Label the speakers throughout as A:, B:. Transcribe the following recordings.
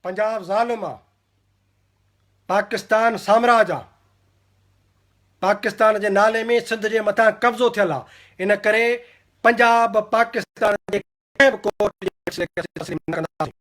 A: پنجاب ظالم آ پاڪستان سامراج آ پاڪستان جي نالي ۾ سنڌ جي مٿان قبضو ٿيل آ ان ڪري پنجاب پاڪستان جي ڪنهن به ڪورٽ جي فيصلي کي اسين تسليم نه ڪنداسين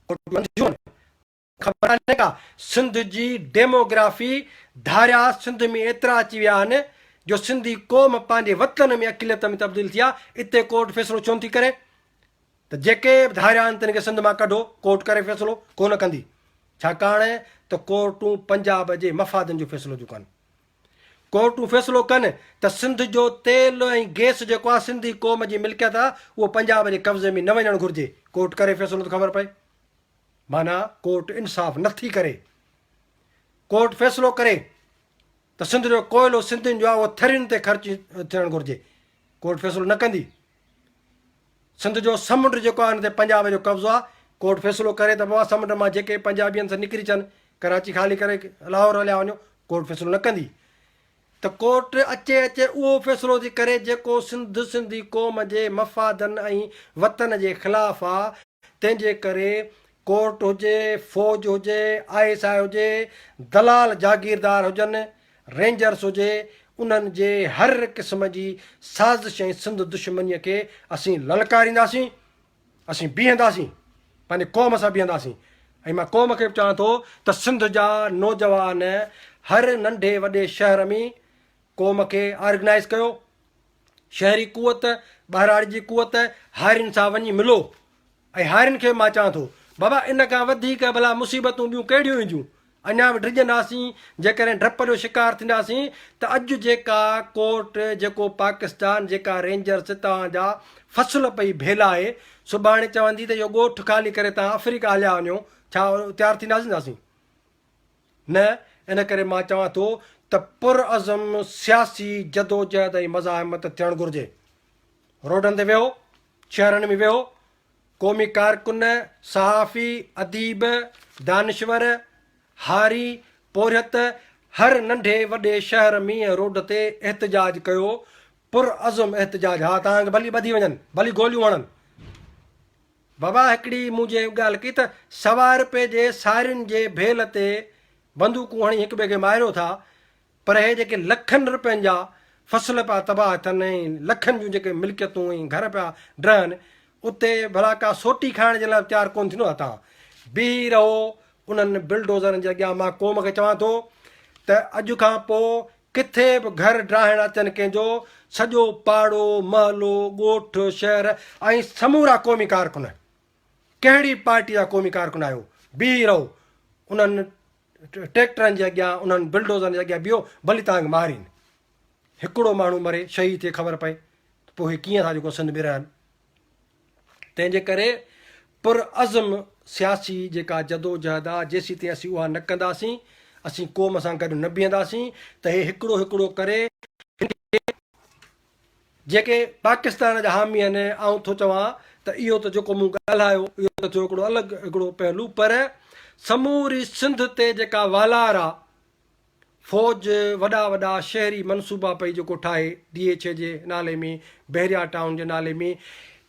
A: ڪورٽون منجون خبر آهي ڪا سنڌ جي ڊيموگرافي ڌاريا سنڌ ۾ ايترا اچي ويا آهن جو سنڌي قوم پنهنجي وطن ۾ اقليت ۾ تبديل ٿي آهي اتي ڪورٽ فيصلو ڇو نٿي ڪري ته جيڪي به ڌاريا آهن تن کي سنڌ مان ڪڍو ڪورٽ ڪري فيصلو ڪونه ڪندي ڇاڪاڻ ته ڪورٽون پنجاب جي مفادن جو فيصلو ٿيون ڪن ڪورٽون فيصلو ڪن ته سنڌ جو تيل ۽ گيس جيڪو آهي سنڌي قوم جي ملڪيت آهي اهو پنجاب جي قبضي ۾ نه وڃڻ گهرجي ڪورٽ ڪري فيصلو ته خبر پئي معنيٰ ڪورٽ انصاف نه ٿي ڪري. ڪورٽ فيصلو ڪري ته سنڌ جو ڪوئلو سنڌين جو آهي اهو ٿرين تي خرچ ٿيڻ گهرجي. ڪورٽ فيصلو نه ڪندي. سنڌ جو سمنڊ جيڪو آهي ان تي پنجاب جو قبضو آهي ڪورٽ فيصلو ڪري ته بابا سمنڊ مان جيڪي پنجابين سان نڪري چن ڪراچي خالي ڪري لاهور هليا وڃو ڪورٽ فيصلو نه ڪندي. ته ڪورٽ اچي اچي اهو فيصلو ٿي ڪري جيڪو سنڌ سنڌي قوم جي مفادن ۽ وطن جي خلاف آ تنهن جي ڪري ڪورٽ هجي فوج هجي آء ايس آء هجي دلال جاگيردار هجن رينجرس هجي انهن جي هر قسم جي سازش ۽ سنڌ دشمني کي اسين للڪارينداسين. اسين بيهنداسين پنهنجي قوم سان بيهنداسين ۽ مان قوم کي به چوان ٿو ته سنڌ جا نوجوان هر ننڍي وڏي شهر ۾ قوم کي آرگنائيز ڪيو شهري قوت ٻهراڙي جي قوت هارين سان وڃي ملو ۽ هارين کي مان چوان ٿو بابا ان کان وڌيڪ ڀلا مصيبتون ٻيون ڪهڙيون اينديون اڃا به ڊڄنداسين، جيڪڏهن ڊپ جو شڪار ٿينداسين ته اڄ جيڪا ڪورٽ جيڪو پاڪستان جيڪا رينجرز توهان جا فصل پئي ڀيلائي سڀاڻي چوندي ته اهو ڳوٺ خالي ڪري توهان آفريڪا هليا وڃو ڇا تيار ٿينداسين ٿينداسين نه ان ڪري مان چوان ٿو ته پرعزم سياسي جدوجهد ۽ مزاحمت ٿيڻ گهرجي روڊن تي ويهو شهرن ۾ ويهو قومي ڪارڪن، صحافي، اديب، دانشور، هاري پورهيت هر ننڍي وڏي شهر مينهن روڊ تي احتجاج ڪيو، پر عزم احتجاج ها تان اڳ ڀلي ٻڌي وڃن، ڀلي گوليون هڻن. بابا هڪڙي مون جي ڳالهه ڪئي ته سوا رپئي جي سارين جي ڀيل تي بندوقون هڻي هڪ ٻئي کي ماريو ٿا، پر اهي جيڪي لکن رپين جا فصل پيا تباهه ٿين ۽ لکن جون جيڪي ملڪيتون ۽ گهر پيا ڊهن، اتي ڀلا ڪا سوٽي کائڻ جي لاء به تيار ڪونه ٿيندو. هتان بيهي رهو انهن بلڊوزرن جي اڳيان مان قوم کي چوان ٿو ته اڄ کان پوء ڪٿي به گهر ڊاهڻ اچن ڪنهن جو سڄو پاڙو، محلو، ڳوٺ، شهر ۽ سمورا قومي ڪارڪن ڪهڙي به پارٽي جا قومي ڪارڪن آهيو بيهي رهو انهن ٽريڪٽرن جي اڳيان انهن بلڊوزرن جي اڳيان بيهو ڀلي توهان کي مارين. هڪڙو ماڻهو مري شهيد ٿئي خبر پئي ته پوء هي ڪيئن ٿا جيڪو سنڌ ۾ رهن. تنهن جي ڪري پر عزم سياسي جيڪا جدوجهد آ جيسين تائين اسين اها نه ڪنداسين اسين قوم سان گڏ نه بيهنداسين ته هي هڪڙو هڪڙو ڪري هن کي جيڪي پاڪستان جا حامي آهن آئون ٿو چوان ته اهو ته جيڪو مون ڳالهايو اهو ته ٿيو هڪڙو الڳ هڪڙو پهلو پر سموري سنڌ تي جيڪا والار آ فوج وڏا وڏا شهري منصوبا پئي جيڪو ٺاهي ڊي ايڇ جي نالي ۾ بحريا ٽائون جي نالي ۾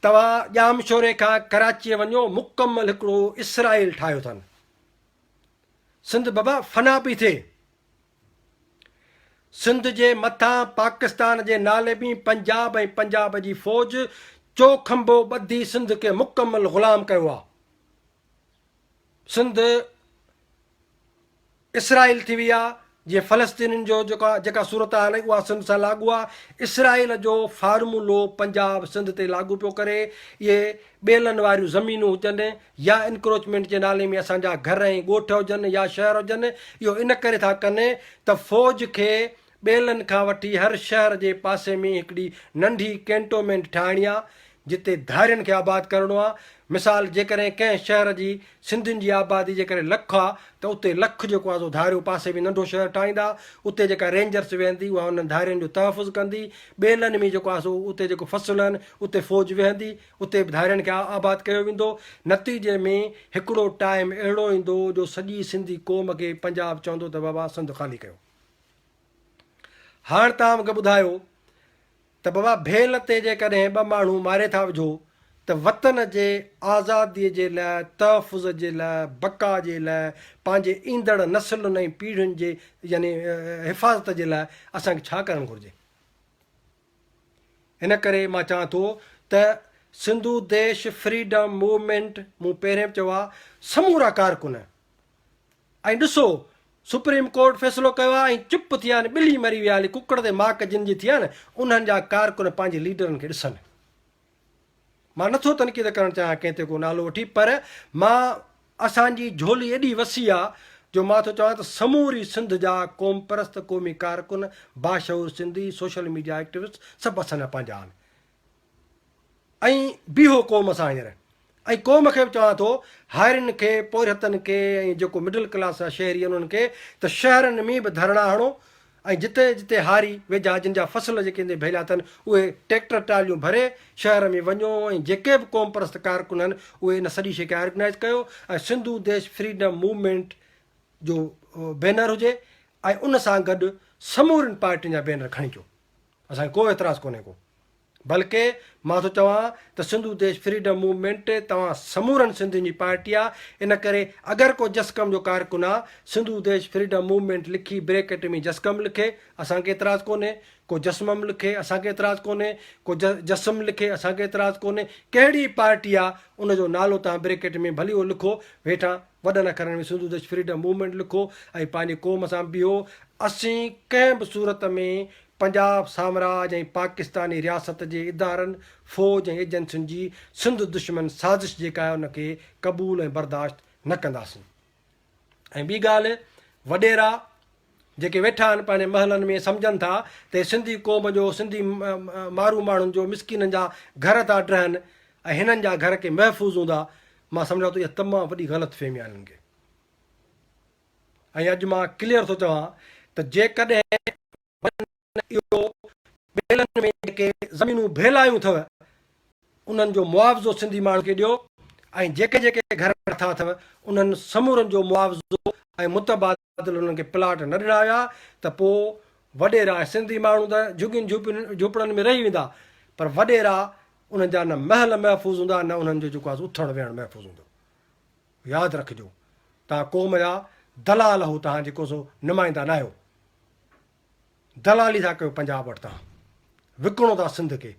A: توهان ڄام شوري کان ڪراچي وڃو مڪمل هڪڙو اسرائيل ٺاهيو اٿن سنڌ بابا فنا پئي ٿئي سنڌ جي مٿان پاڪستان جي نالي بين پنجاب ۽ پنجاب جي فوج چوکنڀو ٻڌي سنڌ کي مڪمل غلام ڪيو آ سنڌ اسرائيل ٿي وئي آ جي فلسطينين جو جيڪا جيڪا صورتحال آهي اها سنڌ سان لاڳو آ اسرائيل جو فارمولو پنجاب سنڌ تي لاڳو پيو ڪري اهي ٻيلن واريون زمينون هجن يا انڪروچمينٽ جي نالي ۾ اسان جا گهر ۽ ڳوٺ هجن يا شهر هجن اهو ان ڪري ٿا ڪن ته فوج کي ٻيلن کان وٺي هر شهر جي پاسي ۾ هڪڙي ننڍي ڪينٽومينٽ ٺاهڻي آ جتي ڌارين کي آباد ڪرڻو آ مثال جيڪڏهن ڪنهن شهر جي سنڌين جي آبادي جيڪڏهن لک آ ته اتي لک جيڪو آ سو ڌاريو پاسي ۾ ننڍو شهر ٺاهيندا اتي جيڪا رينجرس ويهندي اها انهن ڌارين جو تحفظ ڪندي ٻيلن ۾ جيڪو آ سو اتي جيڪو فصل آهن اتي فوج ويهندي اتي به ڌارين کي آباد ڪيو ويندو. نتيجي ۾ هڪڙو ٽائيم اهڙو ايندو جو سڄي سنڌي قوم کي پنجاب چوندو ته بابا سنڌ خالي ڪيو. هاڻ توهان مونکي ٻڌايو ته بابا ڀيل تي جيڪڏهن ٻه ماڻهو ماري ٿا وجهو ته وطن جي آزادي جي لاء، تحفظ جي لاء، بقا جي لاء، پنهنجي ايندڙ نسلن ۽ پيڙهين جي يعني حفاظت جي لاء اسان کي ڇا ڪرڻ گهرجي؟ ان ڪري مان چوان ٿو ته سنڌو ديش فريڊم موومينٽ مون پهرين به چيو آ سمورا ڪارڪن ۽ ڏسو سپريم ڪورٽ فيصلو ڪيو آ ۽ چپ ٿي آهن ٻلي مري ويا هلي ڪڪڙ تي ماڪ جن جي ٿي آ نه انهن جا ڪارڪن پنهنجي ليڊرن کي ڏسن. مان نه ٿو تنقيد ڪرڻ چاهيان ڪنهن تي ڪو نالو وٺي پر مان اسان جي جهولي ايڏي وسيع آ جو مان ٿو چوان ته سموري سنڌ جا قومپرست قومي ڪارڪن باشعور سنڌي سوشل ميڊيا ايڪٽوسٽ سڀ اسان جا پنهنجا آهن ۽ بيهو قوم سان هينئر ۽ قوم کي به چوان ٿو هائرين کي پورهيتن کي ۽ جيڪو مڊل ڪلاس آ شهري انهن کي ته شهرن مين به ڌرڻا هڻو ۽ جتي جتي هاري ويجها جن جا فصل جيڪي هندي ڀيليا اٿن اهي ٽيڪٽر ٽاليون ڀري شهر مين وڃو ۽ جيڪي به قوم پرست ڪارڪن هن اهي ان سڄي شي کي آرگنائيز ڪيو ۽ سنڌو ديش فريڊم موومينٽ جو بينر هجي ۽ ان سان گڏ سمورين پارٽين جا بينر کڻجو. اسان کي ڪو اعتراض ڪونهي ڪو بلڪه مان ٿو چوان ته سنڌو ديش فريڊم موومينٽ توهان سمورن سنڌين جي پارٽي آ ان ڪري اگر ڪو جسقم جو ڪارڪن آ سنڌو ديش فريڊم موومينٽ لکي بريڪٽ ۾ جسقم لکي اسان کي اعتراض ڪونهي ڪو جسمم لکي اسان کي اعتراض ڪونهي ڪو جسم لکي اسان کي اعتراض ڪونهي ڪهڙي پارٽي آ ان جو نالو توهان بريڪٽ ۾ ڀلي اهو لکو ويٺان وڏن اکرن ۾ سنڌو دش فريڊم موومينٽ لکو ۽ پنهنجي قوم سان بيهو. اسين ڪنهن به صورت ۾ پنجاب سامراج ۽ پاڪستاني رياست جي ادارن، فوج ۽ ايجنسين جي سنڌ دشمن سازش جيڪا آهي ان کي قبول ۽ برداشت نه ڪنداسين ۽ ٻي ڳالهه وڏيرا، جيڪي ويٺا آهن پنهنجي محلن ۾ سمجهن ٿا ته سنڌي قوم جو سنڌي مارو ماڻهن جو مسڪينن جا گهر ٿا ڊهن ۽ هنن جا گهر ڪي محفوظ هوندا مان سمجهان ٿو اها تمام وڏي غلط فهمي آهن هنن کي ۽ اڄ مان ڪليئر ٿو چوان ته جيڪڏهن اهو ٻيلن ۾ جيڪي زمينون ڀيلايون اٿو انهن جو معاوضو سنڌي ماڻهن کي ڏيو ۽ جيڪي جيڪي گهر اٿا اٿو انهن سمورن جو معاوضو ۽ متبادل عادل انهن کي پلاٽ نه ڏنا ويا ته پوء وڏيرا ۽ سنڌي ماڻهو ته جهڳين جهوپڙن ۾ رهي ويندا پر وڏيرا انهن جا نه محل محفوظ هوندا نه انهن جو جيڪو آهي سو اٿڻ ويهڻ محفوظ هوندو. ياد رکجو توهان قوم جا دلال هو توهان جيڪو سو نمائندا ناهيو. دلالي ٿا ڪيو پنجاب وٽ تان وڪڻو ٿا سنڌ کي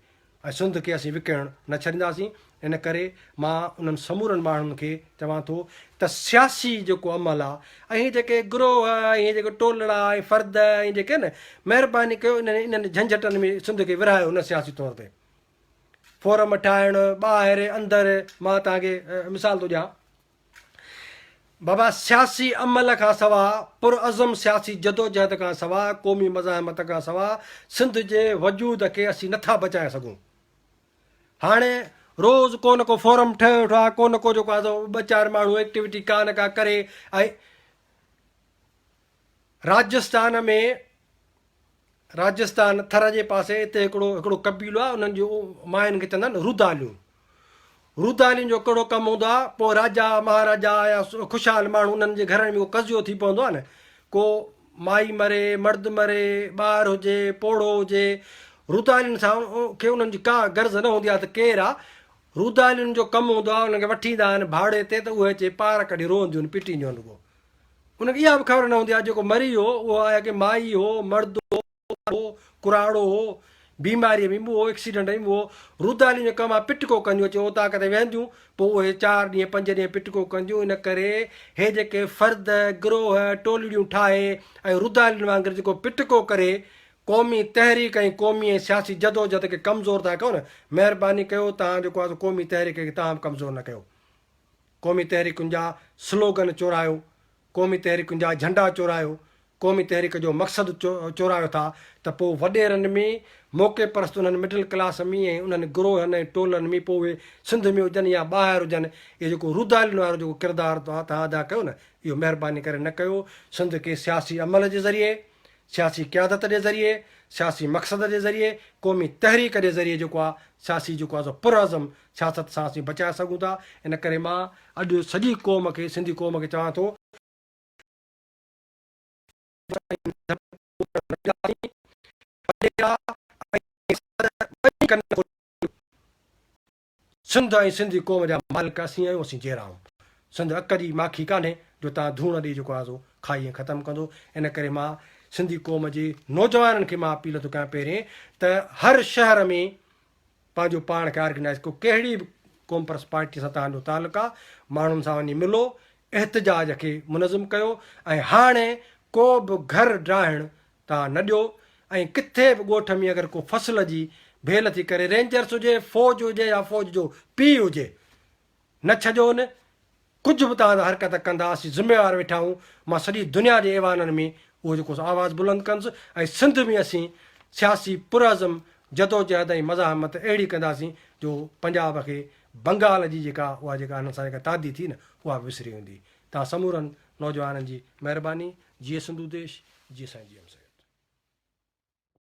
A: ۽ سنڌ کي اسين وڪڻڻ نه ڇڏينداسين ان ڪري مان انهن سمورن ماڻهن کي چوان ٿو ته سياسي جيڪو عمل آ اهي جيڪي گروه اهي جيڪي ٽولڙا ۽ فرد اهي جيڪي نه مهرباني ڪيو انهن انهن جهنجهٽن ۾ سنڌ کي ورهايو نه سياسي طور تي فورم ٺاهڻ ٻاهر اندر مان تان کي مثال ٿو ڏيان بابا سياسي عمل کان سواء، پرعزم سياسي جدوجهد کان سواء، قومي مزاحمت کان سواء سنڌ جي وجود کي اسين نٿا بچائي سگهون. هاڻي روز ڪو نه ڪو فورم ٺهي ويٺو آهي، ڪو نه ڪو جيڪو آهي ٻه چار ماڻهو ايڪٽيوٽي ڪا نه ڪا ڪري ۽ راجسٿان ۾ راجستان ٿر جي پاسي اتي هڪڙو هڪڙو قبيلو آ انهن جو ماين کي چوندا آهن روداليون رودالين جو ڪهڙو ڪم هوندو آ پوء راجا مهاراجا يا خوشحال ماڻهو انهن جي گهرن ۾ ڪو قضيو ٿي پوندو آ نه ڪو مائي مري مرد مري ٻار هجي پوڙهو هجي رودالين سان کي انهن جي ڪا غرض نه هوندي آ ته ڪير آ رودالين جو ڪم هوندو آ انهن کي وٺي ايندا آهن ڀاڙي تي ته اهي اچي پار ڪڍي روئنديون آهن پٽينديون آهن رڳو ان کي اها به خبر نه هوندي آهي جيڪو مري هو اهو آهي اڳي مائي هو، مرد هو، ٻار هو، ڪراڙو هو، بيماريء ۾ مئو، ايڪسيڊنٽ ۾ مئو، رودالين جو ڪم آهي پٽڪو ڪنديون اچي اوطاق تي ويهنديون پوء اهي چار ڏينهن پنج ڏينهن پٽڪو ڪنديون ان ڪري هي جيڪي فرد، گروهه، ٽولڙيون ٺاهي ۽ رودالين وانگر جيڪو پٽڪو ڪري قومي تحريڪ ۽ قومي ۽ سياسي جدوجهد کي ڪمزور ٿا ڪيو نه مهرباني ڪيو توهان جيڪو آهي سو قومي تحريڪ کي توهان به ڪمزور نه ڪيو. قومي تحريڪن جا سلوگن چورايو، قومي تحريڪن جا جهنڊا چورايو، قومي تحريڪ جو مقصد چورايو ٿا ته پوء وڏيرن ۾ موقعي پرست انهن مڊل ڪلاس ۾ ۽ انهن گروهن ۽ ٽولن ۾ پوء اهي سنڌ ۾ هجن يا ٻاهر هجن اهي جيڪو رودائلن وارو جيڪو ڪردار توهان ادا ڪيو نه اهو مهرباني ڪري نه ڪيو سنڌ کي سياسي عمل جي ذريعي، سياسي قيادت جي ذريعي، سياسي مقصد جي ذريعي، قومي تحريڪ جي ذريعي جيڪو آ سياسي جيڪو آ سو پرعزم ڇا ست ساس جي بچائي سگهون ٿا ان ڪري مان اڄ سڄي قوم کي سنڌي قوم کي چوان ٿو سنڌ ۽ سنڌي قوم جا مالڪ اسين آهيون اسين جيئرا آهيون سنڌ اڪ جي ماکي ڪانهي جو تان ڌوڻ ڏئي جيڪو آزو کائي ۽ ختم ڪندو ان ڪري مان سنڌي قوم جي نوجوانن کي مان اپيل ٿو ڪيان پهرين ته هر شهر ۾ پنهنجو پاڻ کي آرگنائيز ڪيو ڪهڙي به قومپرست پارٽي سان توهان جو تعلق آ ماڻهن سان وڃي ملو احتجاج کي منظم ڪيو ۽ هاڻي ڪو به گهر ڊاهڻ توهان نه ڏيو ۽ ڪٿي به ڳوٺ ۾ اگر ڪو فصل جي ڀيل ٿي ڪري رينجرس هجي فوج هجي يا فوج جو پي هجي نه ڇڄون، ڪجهه به توهان سان حرڪت ڪندا، اسين ذميوار ويٺا آهيون، مان سڄي دنيا جي ايوانن ۾ اهو جيڪو سو آواز بلند ڪندس ۽ سنڌ ۾ اسين سياسي پرعزم جدوجهد ۽ مزاحمت اهڙي ڪنداسين جو پنجاب کي بنگال جي جيڪا اها جيڪا هنن سان جيڪا تعدي ٿي نه اها به وسري ويندي. توهان سمورن نوجوانن جي مهرباني. جيئي سنڌو ديش، جيئي سائين جي ايم سيد.